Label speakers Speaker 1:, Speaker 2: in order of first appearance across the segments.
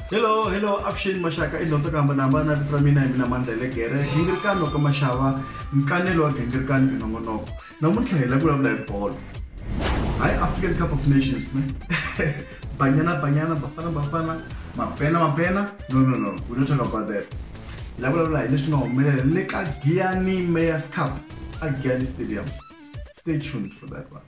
Speaker 1: hello hello avuxeni maxaka i ndzonto ku hambanahambana vito ra mina hi mina mandla hi le gere gingirikani loko maxava nkanelo wa gingirikani minongonoko namuntlha hi la vulavula hi bolo hayi african cup of nations ne banyana banyana bafana bafana mapena mapena no no no we don't talk about that hi la vulavula hi leswi nga humelela le ka giani mayors cup a giani stadium stay tuned for that one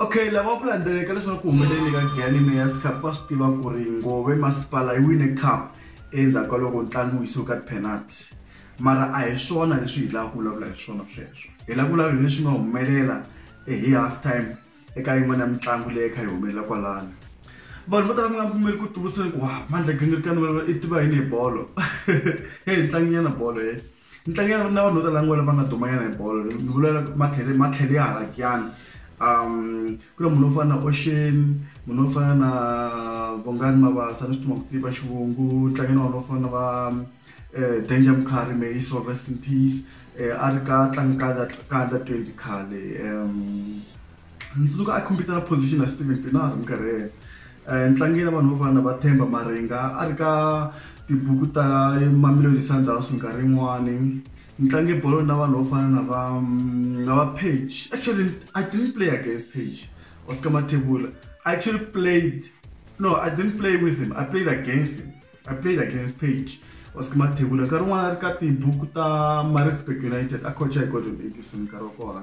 Speaker 1: okay lava ku landzeleka leswaku ku humelele ka gani mayas cup va swi tiva ku ri ngove masipala yi wine cup endzhaku ka loko ntlangu wu yisiwe ka tipenalty mara a hi swona leswi hi lava ku vulavula hi swona sweswo hi lava ku vulavula hi leswi nga humelela eh, hi half time eka yin'wana ya mitlangu leyi kha yi humelela kwalano vanhu vo tala mi nga pfumeli ku tuluseni ku wa mandla gingirikani i tiva yini hi bolo heyi ntlanginyana bolo he Ntlangu ya na vanhu vo tala ngopfu lava nga dumanyana hi bolo ni vula matlhelo matlhelo ya hala kiyani ku na munhu wo fana na Ocean munhu wo fana na Bongani Mabasa ni swi tiva ku tiva xivungu ntlangu na wona wu fana na va Danger Mkhari may his soul rest in peace a ri ka tlanga ka under ka under twenty khale ni tsundzuka a khompita na position na Steven Pienaar minkarhi yeleyo. Entlangeni ya vanhu vo fana na va Themba Maringa a ri ka tibuku ta Mamelodi Sundowns minkarhi yin'wani ni tlange bolo na vanhu vo fana na va na va Page actually I didn't play against Page Oscar Mathebula I actually played no I didn't play with him I played against him I played against Page Oscar Mathebula nkarhi wun'wana a ri ka tibuku ta Maritzburg United a coach-a hi Gordon Erickson nkarhi wa kona.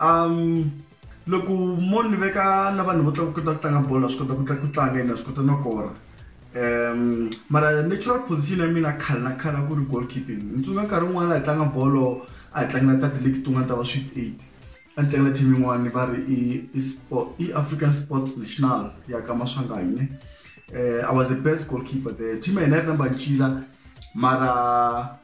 Speaker 1: Um loko mo ni veka na vanhu vo tlanga kota ku tlanga bolo na swi kota ku ku tlanga ene na swi kota no kora um mara natural position ya mina khale na khale a ku ri goal keeping ni tsundzuka nkarhi wun'wana hi tlanga bolo a hi tlangela ka ti-league tin'wana ta va sweet eight a ni tlangela team yin'wana va ri i i sport i african sports national ya ka maswanganyi ne um i was the best goal keeper there team ya hina yi ri number ncila mara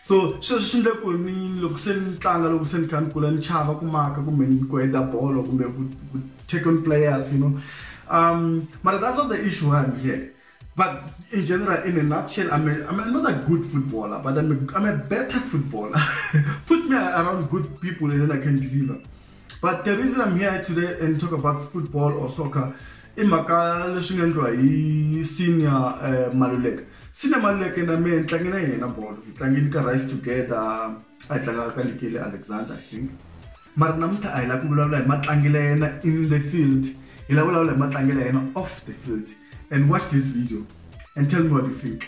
Speaker 1: so sweswi swi ndle ku ni loko se ni tlanga loko se ni kha ni kula ni chava ku maka kumbe ku heta bolo kumbe ku take on players you know um mara that's not the issue why I'm here but in general in a nutshell I'm, a, I'm a, not a good footballer but I'm a, I'm a better footballer put me around good people and then I can deliver but the reason i'm here today and talk about football or soccer i mhaka leswi nga endliwa hi senior uh, maluleka senior maluleka na me ni tlange na yena bolo hi tlangeni ka rice together a hi tlangaka ka likeli alexander i think mara namuntlha a hi lava ku vulavula hi matlangelo ya yena in the field hi lava vulavula hi matlangelo ya yena off the field and watch this video and tell me what you think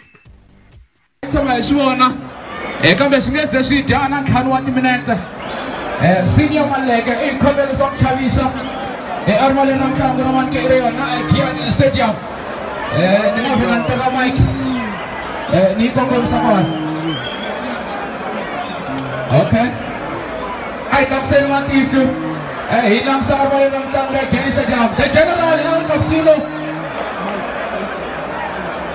Speaker 2: tshama hi swi vona um kambe swi nge ze swi dya na ntlhanu wa timinetse um senior maleke i khomelo swa ku xavisa e armale na mutlango na manike i ri yona egiani stadium um ni nga vhela ni teka mike um ni yi kongomisa kona okay a hi tlakuseni matihlo um hi langusa armale na mutlango ya giani stadium the general el captino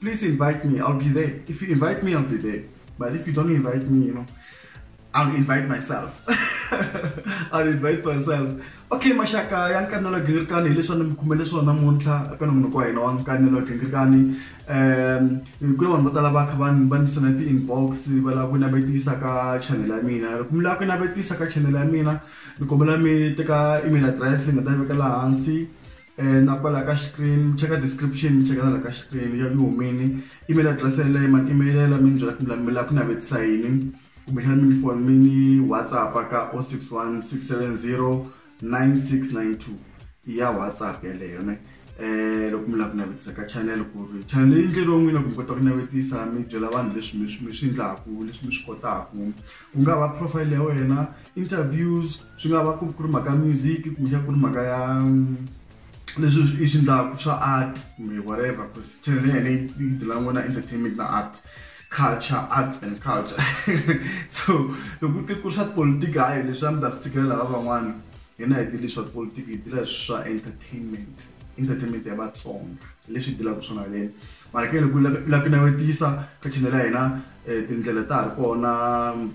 Speaker 1: please invite me. I'll be there. If you invite me, I'll be there. But if you don't invite me, you know, I'll invite myself. I'll invite myself. Okay, mashaka ya nkanelo gingirikani hi leswi a ni mi khumele swona muntlha eka nomunhu wa hina wa nkanelo gingirikani um ku na vanhu vo tala va kha va ni va ni sena ti-inbox va lava ku navetisa ka channel ya mina loko mi lava ku navetisa ka channel ya mina ni kombela mi teka email address leyi nga ta veka laha hansi na kwala ka screen mi cheka description mi cheka na la ka screen ya ku humini email address yeleyo ma email yela mi ni byela ku mi la ku navetisa yini kumbexana mi ni foni mi ni whatsapp ka 061 670 9692 ya whatsapp yeleyo ne eh loko mi lava ku navetisa ka channel ku ri channel leyi ndleriwe n'wina ku mi kota ku navetisa mi byela vanhu leswi mi swi mi swi endlaku leswi mi swi kotaku ku nga va profile ya wena interviews swi nga va ku ri mhaka ya music kumbexana ku ri mhaka ya mm, leswi i swi endlaka swa art kumbe whatever because channel ya hina yi dila n'wana entertainment na art culture arts and culture so loko ku ku swa politiki hayi leswi a mi ta swi tshikela lava van'wana hina hi dile swa politiki hi dila swa entertainment entertainment ya vatsonga leswi dilaka swona leni ma ri ka loko u lava ku navetisa ka chanel ya hina tindlela ta ha ri kona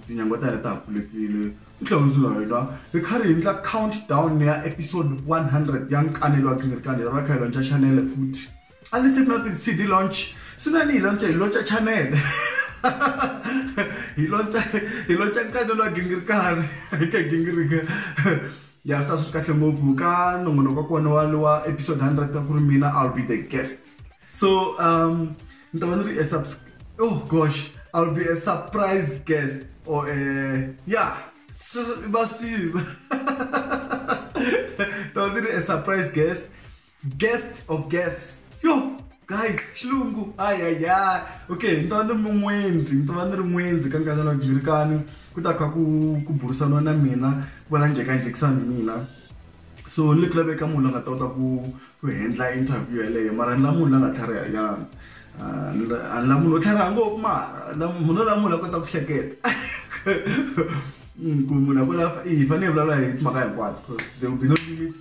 Speaker 1: tinyangwa ta hina ta ha pfulekile u tlhela u ndzi na wena hi kha ri hi endla count down ya episode one hundred ya nkanelo wa gingirikani hi va kha hi lonca chanele futhi a ni se ku na ti-cd launch se na ni hi lonca hi lonca chanele hi lonca hi lonca nkanelo wa gingirikani hi ka gingirika ya swi ta swi ri kahle ngopfu ka nongonoko wa kona wa lowa episode 100 wa ku ri mina i'll be the guest so um ni ta va ni ri a oh gosh i'll be a surprise guest or a yeah va swi tiyisa ta va ni ri a surprise guest guest of guests yo guys xilungu ayaya okay ni ta va ni ri mun'wendzi ni ta va ni ri n'wendzi ka nkarhi lowu jivirikani ku ta kha ku ku burisaniwa na mina ku va na njhekanjhekisana hi mina so ni le ku laveka munhu la nga ta kota ku ku hendla interview yeleyo mara ni la munhu la nga tlhariha nyana Ah, ni la- a ni la munhu wo tlhariha ngopfu mara la- munhu la munhu la kota ku hleketa Mm, ku munhu a kota i hi fanele hi vulavula hi timhaka hinkwato because there will be no limits